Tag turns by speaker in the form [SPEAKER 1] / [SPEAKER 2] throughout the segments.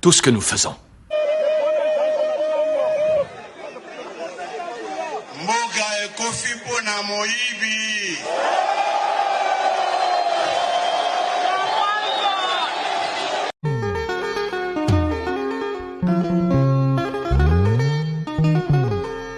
[SPEAKER 1] tout ce que nous faisons. Mboka ekofi mpo na moyibi.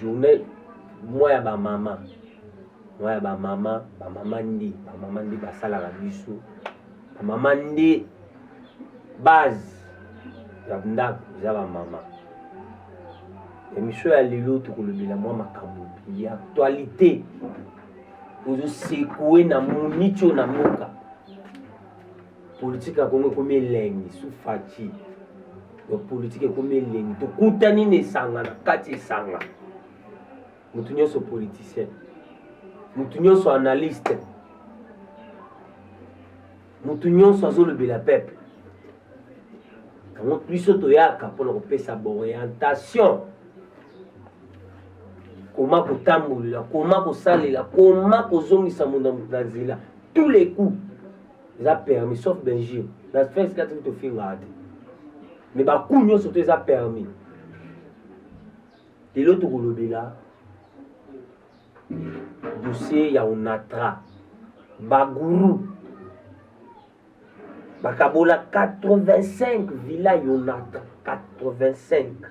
[SPEAKER 2] journée mwa ya bamama mwa ya bamama bamama nde bamama nde basalaka biso bamama nde base ya ndako eza bamama emission ya lelo tokolobela mwa makambo ya actualité ozosekue na monico na mboka Politique ya Congo ekomi elengi sous Fatshi. Ya politique ekomi elengi. Tokutani na esanga na kati esanga. Moto nyonso politicien. Moto nyonso analyste. Moto nyonso azolobela peuple. Yango biso toyaka mpona kopesa baorientation koma kotambolela koma kosalela koma kozongisa moto na nzela tous les coups eza permis sauf benjir na fes kati kutu ofingaka te me baku nyonso to eza permis lelo tokolobela dossier ya onatra baguru bakabola 85 villa yonatra 85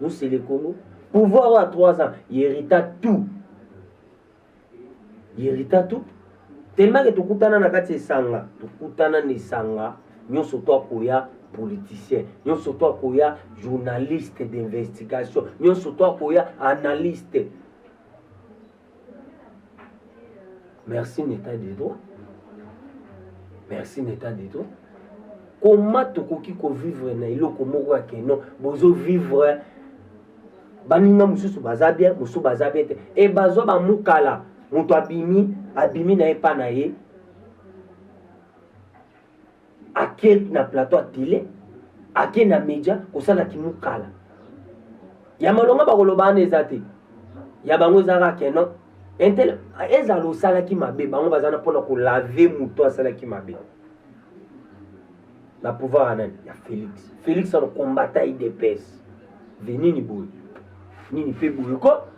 [SPEAKER 2] Nous le Congo. Pouvoir à 3 ans, il hérita tout. Il hérita tout. Tellement que tokutana na kati esanga, tokutana na esanga, nyonso to akoya politicien, nyonso to akoya journaliste d'investigation, nyonso to akoya analyste. merci neta dido merci neta dido koma tokoki kovivre na eloko moko ya keno bozovivre baninga mosusu baza bien mosusu baza bien te e bazwa bamukala moto abimi abimi na ye mpa na ye ake na plateau ya tele ake na media kosala kimukala ya malonga bakoloba wana eza te ya bango eza kaka kenon intel ezala osalaki mabe bango baza na mpona kolave moto asalaki mabe na pouvoir ya nani ya félix félix ano combata idps ve nini boye nini mpe boye ko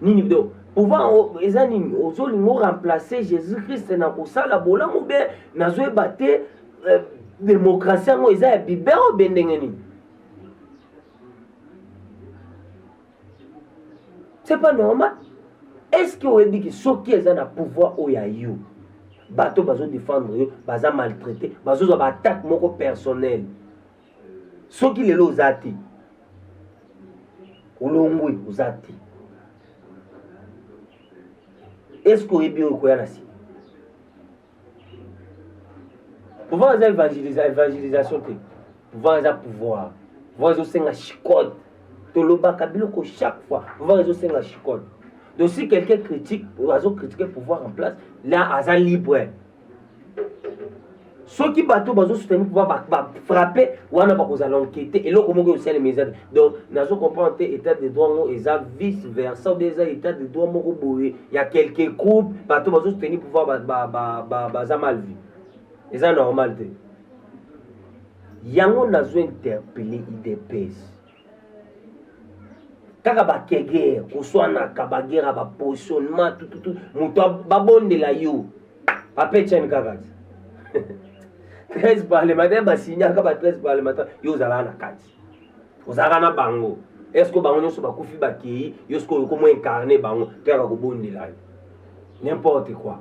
[SPEAKER 2] nini do pouvoir eza nini ozolinga oremplace jésus christ na kosala bolamu be nazoyeba te euh, demokrasi yango eza ya bibe oyo be ndenge nini c'est pas normal est ce que oyebi ke soki eza na pouvoir oyo ya yo bato bazodefendre yo baza maltraite bazozwa baattaque moko personnel soki lelo oza te olongwe oza te eske oyebi oyo koya na nsima pouvoir eza evangelisation te pouvoir eza pouvoir pouvoir ezosenga chicote tolobaka biloko chaque fois pouvoir ezosenga chicote donc si quelqu'un critique azo critique pouvoir en place là aza libre soki bato bazosutani mpo bafrappe wana bakozala enkete eloko moko eosalema eza donc nazo comprendre te état de droit yango eza vice versa obe eza état de droit moko boye ya quelque groupe bato bazosutani pouvoir baza mal vie eza normal te yango nazo interpele idps kaka bakegere koswanaka bagera bapositionnement tututu moto babondela yo apetiani kaka ti 13 parlementaire basignaka ba 13 parlementaire yo ozalaka na kati ozalaka na bango eske bango nyonso bakufi bakei yo sikoyo okomo incarne bango to yaka kobondela yo n'importe quoi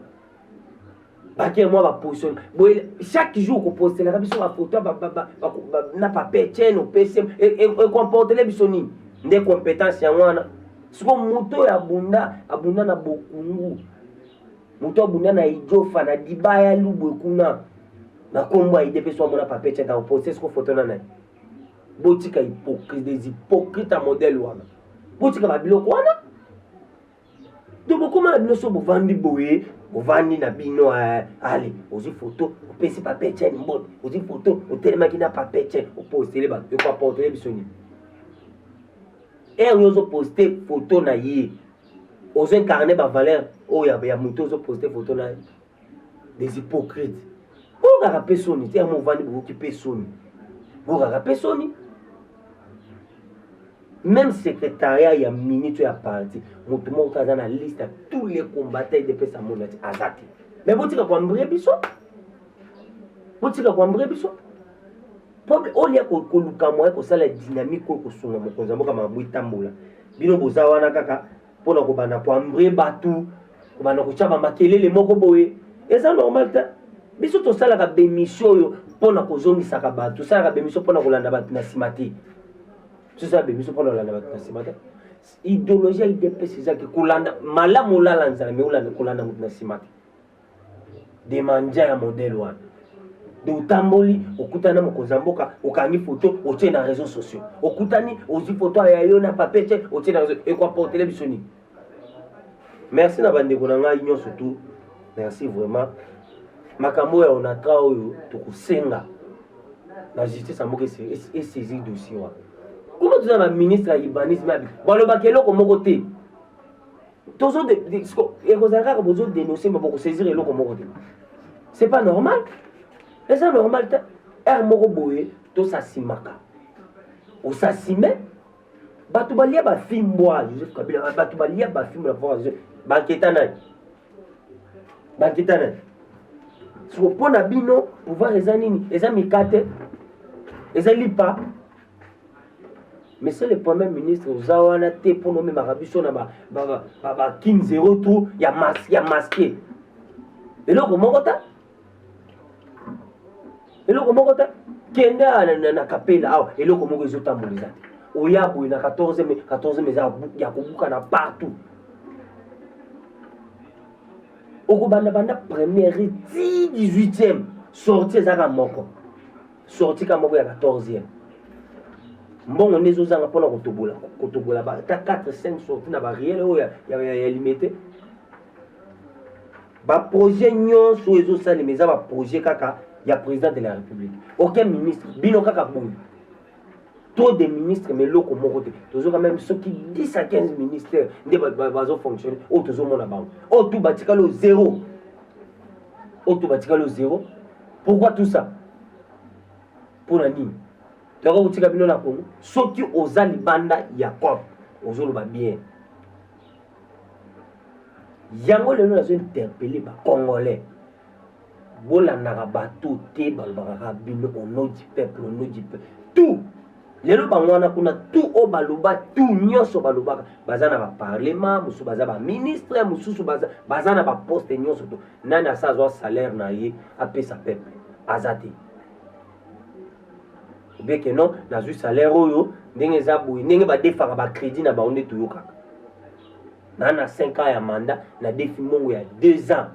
[SPEAKER 2] bake mwa baposition boye chaque jour kopostelaka biso bafoto na papier chaine opesi ekomportele e, e biso nini nde compétence yango wana siko moto oyo abunda abunda na bokungu moto abunda na ijofa na dibaya lubwe kuna na nkombo ya ide mpe so amona papier chaine akoposte siko foto na nani botika hypocrite des hypocrite ya modèle wana botika babiloko wana to bokoma na bino so bovandi boye ovandi na bino eh, ale ozwi foto opesi papa etienne mbote ozwi foto otelemaki na papa etienne opostele bato yoko aporte oyebi soni ere ozoposte foto na ye ozoincarne bavaleur oyo ya moto ozoposte foto na ye des hypocrites bokaka mpe soni te yango ovandi bokoki mpe soni bokaka mpe soni même secrétariat ya minute ya parti moto moko te aza na liste ya tous les combattants edepesa mona ti aza te mais botika koambrie biso botika koambrie biso mpo olia koluka moye kosala dynamique oyo kosunga mokonzi ya mboka makambo etambola bino boza wana kaka mpo na kobanda koambre bato kobanda kotya bamakelele moko boye eza normal te biso tosalaka bemisio oyo mpo na kozongisaka bato tosalaka bemisio mpo na kolanda bato na nsima te tosala bemisio mpo na kolanda bato na nsima te idéologie ya idps ezaki kolanda malamu olala nzala me kolanda moto na nsima te demandia ya modele wana de otamboli okutani na mokonzi ya mboka okangi foto otie na réseau sociaux okutani ozwi foto ya yo na papier te otie na réseau ekoaportele biso nini merci na bandeko na ngai nyonso tout merci vraiment makambo oyo ya onatra oyo tokosenga na justice ya mboka esaisir dossier wana kuna toza na ministre ya urbanisme abi balobaka eloko moko te tozo ekozala kaka bozo denonce ma bokosaisir eloko moko te c'est pas normal eza normal te heure moko boye tosasimaka osasime bato balia bafimbwa joseph kabila bato balia bafimbwa na pouvoir banketa nani banketa nani siko mpo na bino pouvoir eza nini eza mikate eza lipa monsieur le premier ministre oza wana te mpo nomemaka biso na bakin zero tour ya maske ya maske eloko moko ta eloko moko ta kende na kapela awa eloko moko ezotambola eza te oya boye na 14 mai 14 mai eza ya kobukana partout okobanda banda première ti 18e sorti ezaka moko sorti ka moko ya 14e mbongo nde ezozanga mpona kotobola kotobola ata 4 5 sorti na bariele oyo ya limete baprojet nyonso oyo ezosalema eza baprojet kaka ya président de la république aucun ministre bino kaka boye trop de ministre mais eloko moko te tozoka meme soki 10 à 15 ministère nde bazofonctionne oyo tozomona bango oyo tu batikali o zero oyo tu batikali o zero Pourquoi tout ça? Pona nini? Toka kotika bino na Congo. Soki oza libanda ya COP, ozoloba bien. Yango lelo nazo interpeller ba Congolais. Bolandaka bato te balobaka bino au nom du peuple, au nom du peuple. Tout lelo bango wana kuna tu oyo baloba tu nyonso balobaka baza na baparlema mosusu baza baministre mosusu baza, baza na baposte nyonso to nani asa azwa salaire na ye apesa peuple aza te obeke non nazwi salaire oyo ndenge eza boye ndenge badefaka bacrédit na bango nde toyokaka naa na 5 ans ya mandat nadefi mbongo ya 2 ans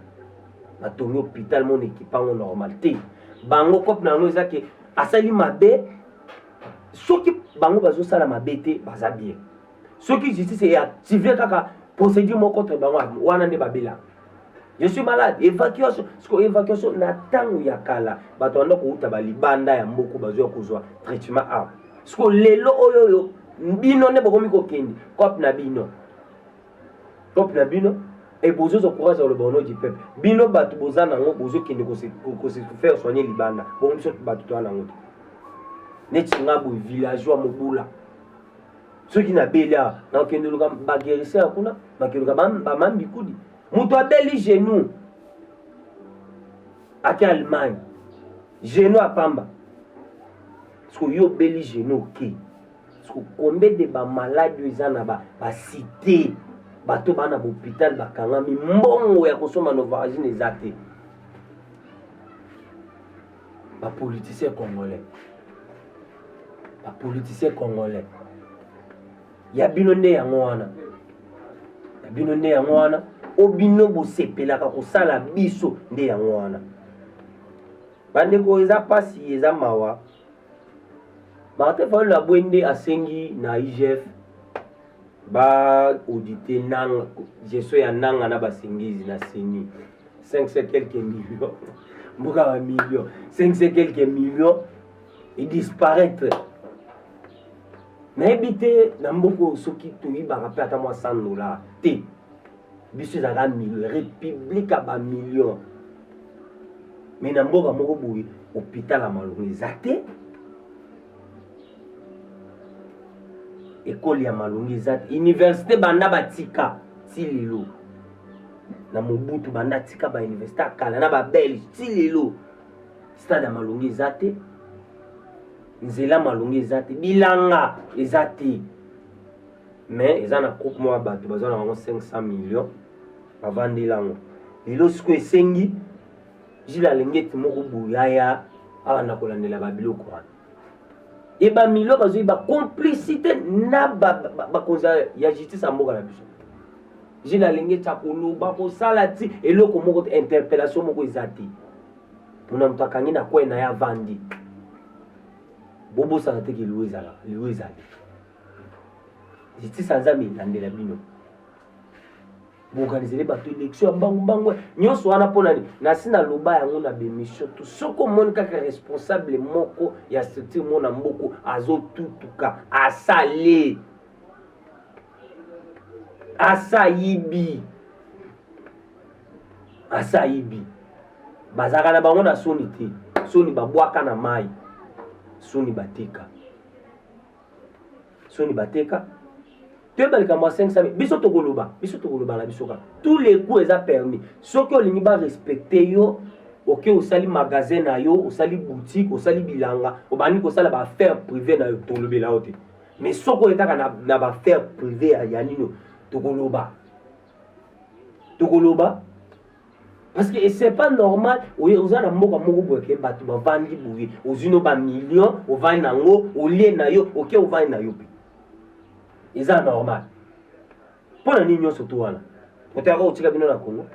[SPEAKER 2] batongi hôpital mona ekipango normal te bango cope na yango eza ke asali mabe soki bango bazosala mabe te baza bien soki justice eactive kaka procédure moko contre bango wana nde babela je suis malade évacuation siko évacuation na ntango ya kala bato banda kouta balibanda ya mboku bazwa kozwa traitement awa siko lelo oyo oyo bino nde bokomi kokende cope na bino peuple na bino et bozozwa courage ya koloba ono du peuple bino bato boza nango bozokende kose faire soigner libanda bongo biso bato toza nango te neti nga boye villageois mobula soki nabeli awa nakokende oluka baguerisseur kuna bakeluka bamambikudi moto abeli genou ake allemagne genou apamba soki yo obeli genou oke okay. combien de ba malade oyo eza na ba, ba cité bato baa na bopital bakangami mbongo ya kosomba novaragine eza te bapoliticien congolais bapoliticien congolais ya bino nde yango wana ya bino nde yango wana o bino bosepelaka kosala biso nde yango wana bandeko eza mpasi eza mawa Martin Fayulu abwe nde asengi na IGF ba audite nanga gestion ya nanga na basengizi na CENI 500 quelques millions mboka ba millions 500 quelques millions e disparaître nayebi te na mboka oyo soki toyibaka mpe ata mwa 100 dollar te biso ezalaka république ya bamillion me na mboka moko boye hopital ya malonga eza te ekole ya malonga eza te université banda batika ti lelo na mobutu banda atika bauniversité ya kala na babelge ti lelo stade ya malonga eza te nzela malonga eza te bilanga eza te mais eza na groupe moko ya bato baza na bango 500 millions avandeli yango lelo siko esengi jile alengeti moko boyaya abanda kolandela babiloko wana e bamilio bazwi bacomplicité na bakonzi ya justice ya mboka na biso jile alengeti akoloba kosala ti eloko moko interpellation moko eza te mona moto akangi na kwai na ye avandi bobosana te ke liwa ezalaka liwa ezali justice ya nzambe elandela bino boorganizele bato élection ya mbangu mbangu nyonso wana mpo nani nasi naloba yango na bemission to soki omoni kaka responsable moko ya structure moko na mboko azotutuka asale asayibi asayibi bazalaka na bango na soni te soni babwaka na mai soni batika soni bateka toyeba likambo ya 500 biso tokoloba biso tokoloba na biso kaka tous les goûts eza permis soki olingi barespecte yo oke okay, osali magasin na yo osali boutique osali bilanga obandi kosala baaffaire privé na yo tolobela yo te mais soki oye kaka na, na baaffaire privé ya nino tokoloba tokoloba parce que c'est pas normal oza na mboka moko boye ke bato bavandi boye ozwi no bamillion ovandi na yango olie na yo oke ovandi na yo mpe eza normal mpo na nini nyonso to wana oteyaka kotika bino na kongo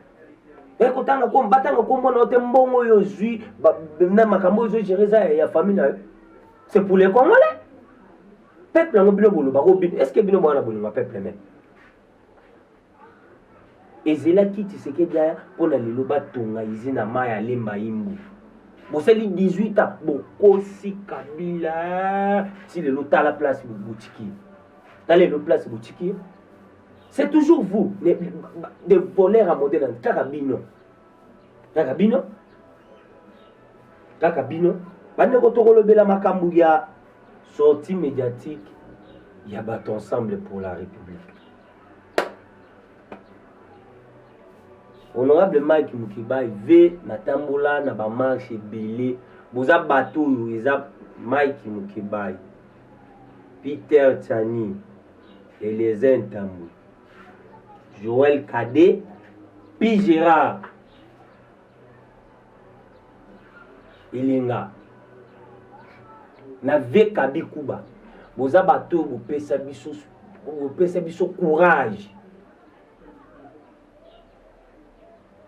[SPEAKER 2] eh, kotanga kombo batanga kombo na yo te mbongo oyo ozwi na makambo oyo ozogere eza ya famille na yo c'est pour les congolais peuple yango bino bolobaka obino est ce que bino mwana bolinga peuple meme Ezelaki Tshisekedi aya mpo na lelo batonga izine ya mai ya Lemba Imbu. Bosali 18 ans bokosi Kabila ti lelo tala place botiki. Tala lelo place botiki. C'est toujours vous les, des voleurs à modèle kaka bino. Kaka bino. Kaka bino. Bandeko tokolobela makambo ya sortie médiatique ya bato ensemble pour la République. honorable mike mukebayi ve natambola na bamarshe ebele boza bato oyo eza mike mukebayi peter chani eliezer ntambo joel kade pi gerard elenga na vie kabi kuba boza bato oyo bopesa biso bopesa biso courage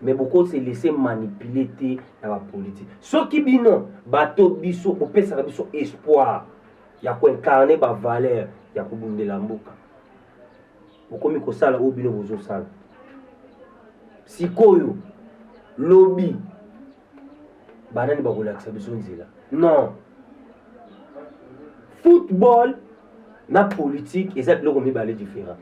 [SPEAKER 2] mais bokose laisse manipule te na bapolitike soki bino bato biso bopesaka biso espoir ya koincarne bavaleur ya kobundela mboka bokomi kosala oyo bino bozosala sikoyo lobi banani bakolakisa biso nzela non football na politike eza biloko mibale différent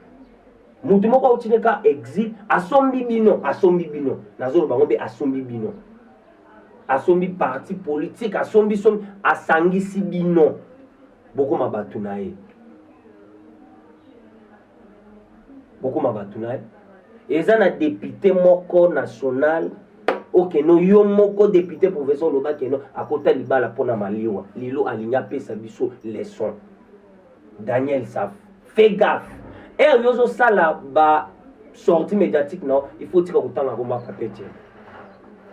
[SPEAKER 2] motu moko auti ne ka exil asombi bino asombi bino nazoloba yango mpe asombi bino asombi parti politike asombi sombi asangisi bino bokoma bato na ye bokoma bato na ye eza na depute moko national okeno yo moko depute professeur oloba keno akota libala mpo na maliwa lelo alingi apesa biso leson daniel saf fe gaf ere yo ozosala ba sorti médiatique na il faut tika kotanga komba papete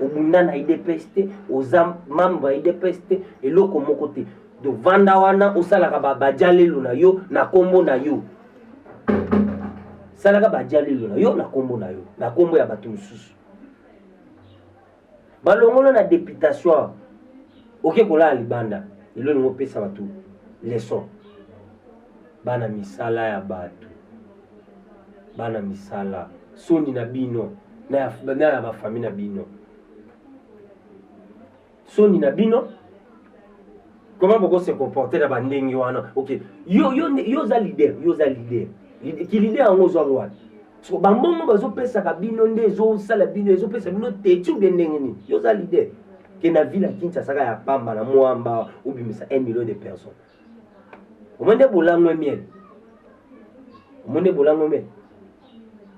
[SPEAKER 2] obunda na idps te oza membre ya idps te eloko moko te donc vanda wana osalaka bajalelo na yo na nkombo na yo salaka bajalelo na yo na nkombo na yo na nkombo ya bato mosusu balongola na deputation oke kolala libanda lelo elingi opesa bato leson bana misala ya bato bana misala soni na bino na ya bafami na bino soni na bino comment boko se comporter na bandenge wana ok yo yo yo oza leader yo oza leader ki leader yango ozwa ngo wapi so bambongo bazopesaka bino nde ezosala bino ezopesa bino teti ubie ndenge nini yo oza leader ke na ville ya kinshasaka ya pamba na mwamba obimisa 1 million de personnes omoni bolango ya miel omoni bolango miel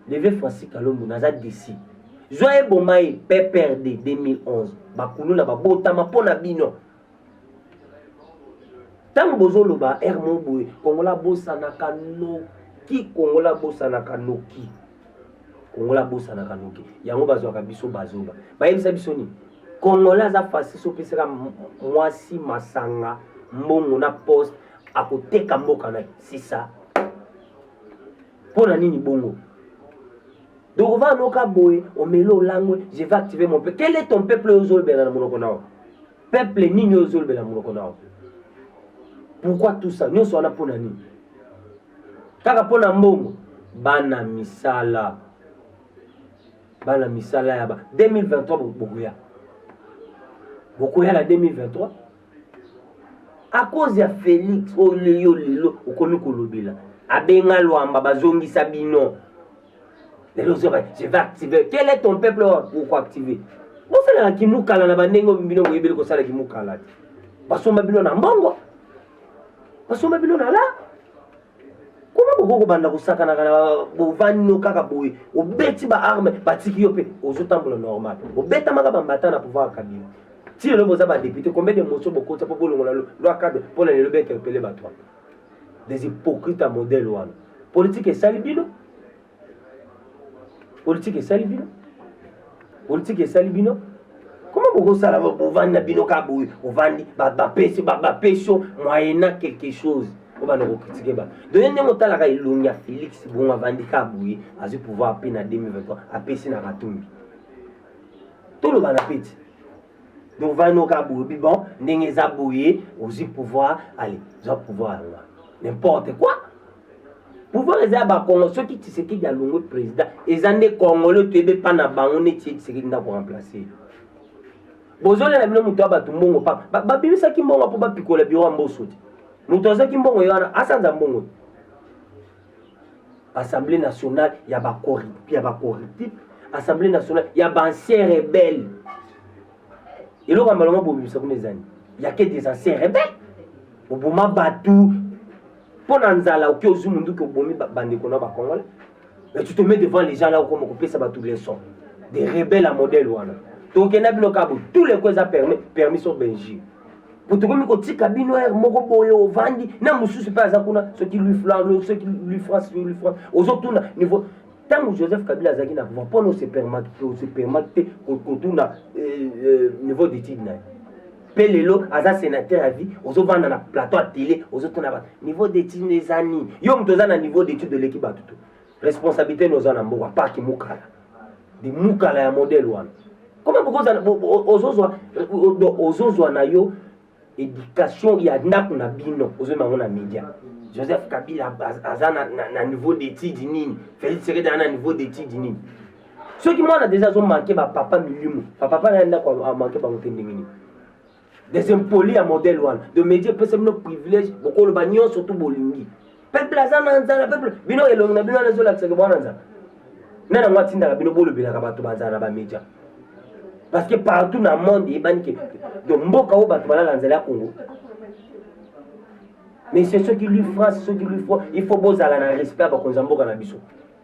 [SPEAKER 2] leve francis kalombo naza desi zwa eboma ye pprd 2011 bakuluna babotama mpo na bino ntango bozoloba r mo boye kongola abosanaka noki kongola abosanaka noki kongola abosanaka noki yango bazwaka biso bazoba bayebisa biso nini kongola aza fasi sopesaka mwasi masanga mbongo na poste akoteka mboka na sisa mpo na nini bongo donc ova noka boye omeli olangwe je vais activer mon peuple quel est ton peuple oyo ozolobela na monoko na yo peuple nini oyo ozolobela na monoko na yo pourquoi tout ça nyonso wana mpo na nini Kaka mpo na mbongo bana misala bana misala ya ba 2023 bokoya bokoya na 2023 a cause ya Felix oyo yo lelo okomi kolobela abenga lwamba bazongisa bino lelo ozoba je vais activer quel est ton peuple oyo okoactive bosalaka kimukala na bandenge bino boyebeli kosala kimukala te basomba bino na mbongo basomba bino na la kuna bokoki kobanda kosakanaka na bovandi no kaka boye obeti baarme batiki yo mpe ozotambola normal obetamaka bambata na pouvoir ya kabila ti lelo boza badepute combien de motion bokotisa mpo bolongola loi cadre mpo na lelo bainterpele bato wana des hypocrite ya modèle wana politike esali bino politike esali bino politike esali bino koma bokosala bovandi na bino kaka boye ovandi bapesi bapeso moyena quelque chose obanda kokritike bato doye ndenge otalaka elongi ya félix bongo avandi kaka boye azwi pouvoir mpe na 2023 apesi na katumbi tolobana mpe ti donc ovandi no kaka boye bibon ndenge eza boye ozwi pouvoir ale zwa pouvoir yango n'importe quoi pouvoir eza ya bakongo soki tisekedi alongwe président eza nde congolais toyebi epa na bango neti ye tisekedi nde akoremplace bozolela bino moto ya bato mbongo pa babimisaki mbongo mpo bapikola biro ya mboso te moto azwaki mbongo ye wana asanza mbongo te assemblée nationale ya bacorruptif assemblée nationale ya bancien rebelle eloko ya malonga bobimisa kuna ezali yake des ancien rebelle boboma bato mpo na nzala oke ozwi monduki obomi bandeko na bacongolais mais tu te mets devant les gens là okoma kopesa bato leçon de rebelle ya modèle wana tokenda bino kabo tous les ko eza permis permis so belgique po tokomi kotika bino aire moko boye ovandi na mosusu mpe aza kuna soki lui flan soki lui france lui france ozotuna niveau ntango joseph kabila azalaki na pouvoir mpo na ose permaki te kotuna euh, euh, niveau d'étude na ye mpe lelo aza senateur ya vie ozovanda na plateau ya tele ozotuna bato niveau d'étude no eza nini yo moto oza na niveau d'étude oleki bato to responsabilité no oza na mboka parki mukala de mukala ya modele wana koma bokozala ozozwa ozozwa na yo éducation ya ndako na bino ozoyeba yango na média joseph kabila aza na niveau d'étude nini félix sekedi aza na niveau d'étude nini soki mwana deja azomanke bapapa milimo bapapa naye ndako amanke bango te ndenge nini des impolis ya modèle wana de média epesa bino privilège bokoloba nyonso tu bolingi peuple aza na nzala peuple bino elongi na bino wana ezolakisaka bwana nzala nani yango atindaka bino bolobelaka bato banzala na bamedia parce que partout na monde eyebani ke donc mboka oyo bato balala nzela ya congo mais c'est soki lui france soki lui froid il faut bozala na respect ya bakonzi ya mboka na biso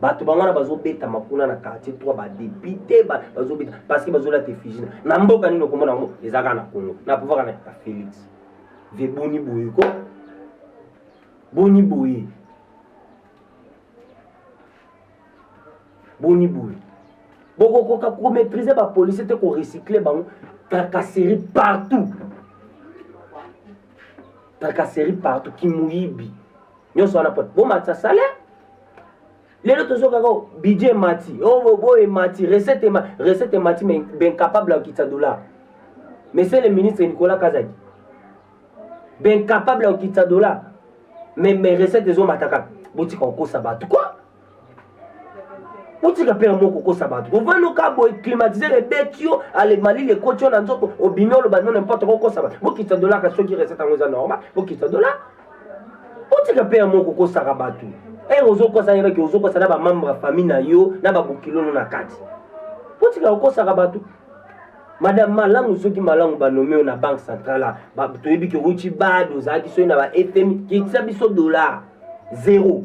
[SPEAKER 2] bato bango wana bazobetama kuna na quartier 3 badepute bazobeta parce que bazolata effigie na mboka nini okomona yango ezalaka na congo na pouvoir na ya félix ve boni boye ko boni boye boni boye bokokoka komaîtrise bapolicier te korecycle bango tracasserie partout tracasserie partout kimoyibi nyonso wana pona bomatisa salaire lelo tozo kaka oh, budget emati obobo oh, emati recette recette emati mais b'incapable ya kokitisa dollar monsieur le ministre nicolas kazadi b'incapable ya kokitisa dollar mais mais recette ezomata kaka botika kokosa bato kua otika mpe yango kokosa bato kovanda oka boye climatiseur ebeti yo alemalili ekoti yo na nzoto obimi oloba no nimporte kokosa bato bokitisa dola kasi soki recette yango eza normal bokitisa dola otika mpe yango kokosaka bato ere eh, ozokosa yebaki ozokosa na bamembre ya famille na yo na babokilono na kati otika kokosaka bato madame malamu soki malamu banome oyo na banque centrale toyebi ke owuti bado ozalaki soki na ba fmi kitisa biso dollar zero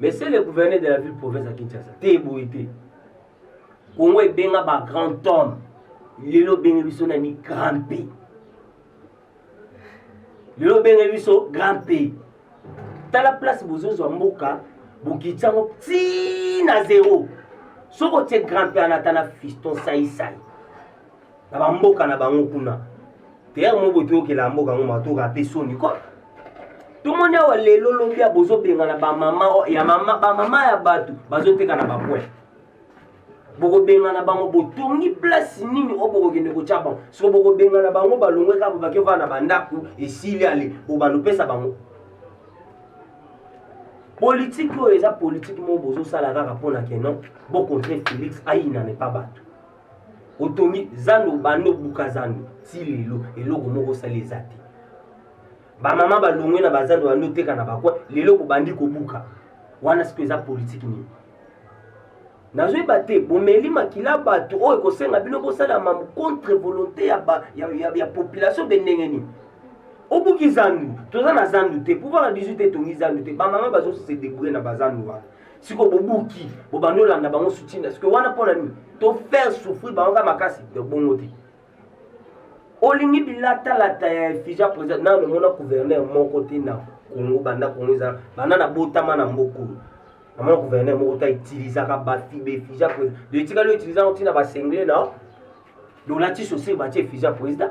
[SPEAKER 2] Monsieur le gouverneur de la ville province ya Kinshasa, te boye te. Congo ebenga ba grand homme. Lelo benga biso na ni grand P. Lelo benga biso grand P. Tala place bozozwa mboka bokitisa yango ti na zero. Soki otie grand P anatana fiston sai sai. na bamboka na bango kuna teyaka moko boye toyokela mboka yango matoka mpe soni ko tomoni awa lelo lobi ya bozobengana bamama ya mama bamama ya bato bazoteka na bapoint bokobengana bango botongi place nini oyo bokokende kotya bango soko bokobengana bango balongwe kaka bobaki ovaa na bandako esili ale bobalopesa bango politike oyo eza politike moko bozosala kaka mpo na keno bokontre félix ayinane pa bato otongi zando banda obuka zando ti lelo eloko moko osali eza te bamama balongwe na bazando banda oteka na bakwa lelo kobandi kobuka wana siko eza politiki nini nazoyeba te bomeli makila bato oyo ekosenga bino bosalama contre volonté ya, ba, ya, ya, ya population de ndenge nini obuki zandu toza na zandu te pouvoir ya 18 etongi zandu te bamama bazose debrouille na bazandu wana siko bobuki bobandi olanda bango sutina siko wana mpo na nini to faire souffrir bango kaka makasi ya bongo te olingi bilatalata ya efija président nano omona gouverneur moko te na kongo banda kongo ezala banda nabotama na mboka oyo namona gouverneur moko te utilisaka bafiba efija président de etikali outiliza yango ntina basengle na dolati sosi batie efija président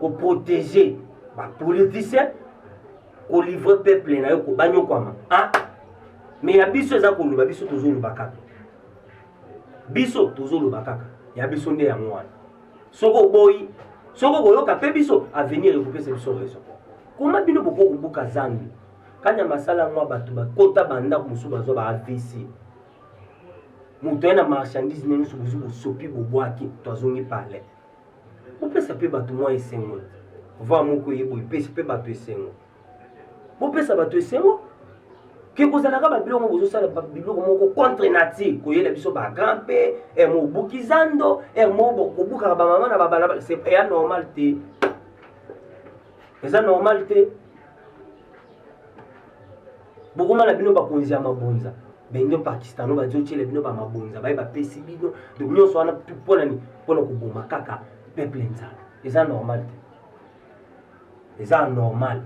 [SPEAKER 2] ko protéger ba politiciens ko livrer peuple na yo ko banyokwama ah mais ya biso eza koloba biso tozoloba kaka biso tozoloba kaka ya biso nde yango wana soki oboyi soki okoyoka mpe biso avenir ekopesa biso raison koma bino bokoki kobuka zambi kanya masala yango ya bato bakota bandako mosusu bazwa ba avc moto aye na marchandise na nyonso bozwi bosopi bobwaki to azongi palais bopesa mpe bato mwa esengo va moko eye boye epesi mpe bato esengo bopesa bato esengo ke kozalaka babiloko bozosala biloko moko contre nature koyela biso bagrand mpe er mobuki zando er moko kobukaka bamama na babalabala eya normal te eza normal te bokoma na bino bakonzi ya mabonza baindo pakistano bazotyela bino bamabonza baye bapesi bino donc nyonso wana mpona nini mpona koboma kaka peuple nzala eza normal te eza normal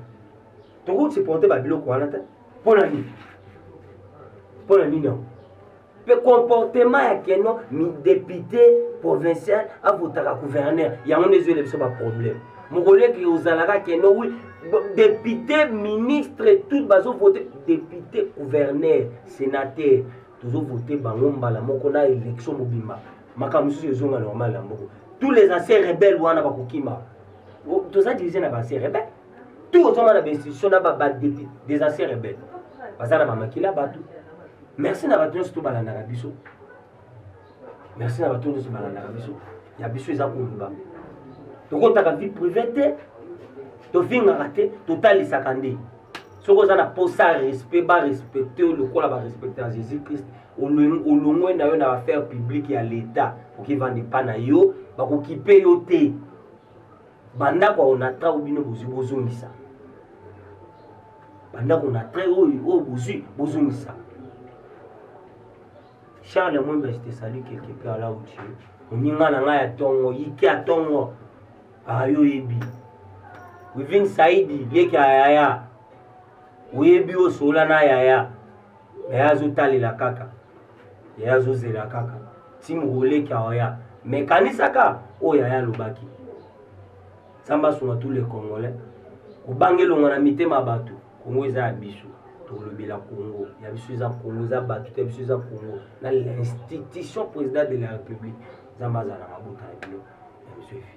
[SPEAKER 2] tokoki supporte babiloko wana te mpona nini mpona nini yango mpe comportement ya keno depute provincial avotaka gouverneur yango nde ezwele biso baproblème mokoleki ozalaka keno wi depute ministre tout bazovote depute gouverneur sénateur tozovote bango mbala moko na élection mobimba makambo mosusu ezonga normal ya mboko tous les anciens rebelles wana bakokima toza divise na ba anciens rebelles tout ozoma na bainstitution na badepute des anciens rebelles baza na bamakila bato merci na bato nyonso to balandaka biso merci na bato nyonso balandaka biso ya biso eza koluba tokotaka vie privé te tofingaka te totalisaka nde soki oza na mposa ya respect barespecte yo lokola barespecte ya jésus christ olongwe na yo na affaire publique ya leta okivanda epa na yo bakokipe yo te bandako ya onatra oyo bino bozwi bozongisa bandako onatra oyo oyo bozwi bozongisa charles mwembe je te salut quelque part là où tu es moninga na ngai ya tongo yike ya tongo ayo oyebi wivin saidi leki ya yaya oyebi osola na yaya yaya azotalela kaka yaya azozela kaka ti mokoleki aoya me kanisaka oyo yaya alobaki nzambe asunga tous les congolais kobanga elonga na mitema ya bato kongo eza ya biso tolobela congo ya biso eza congo eza bato te ya biso eza congo na l'institution président de la république nzambe azala mabota ya bino ya
[SPEAKER 1] biso efi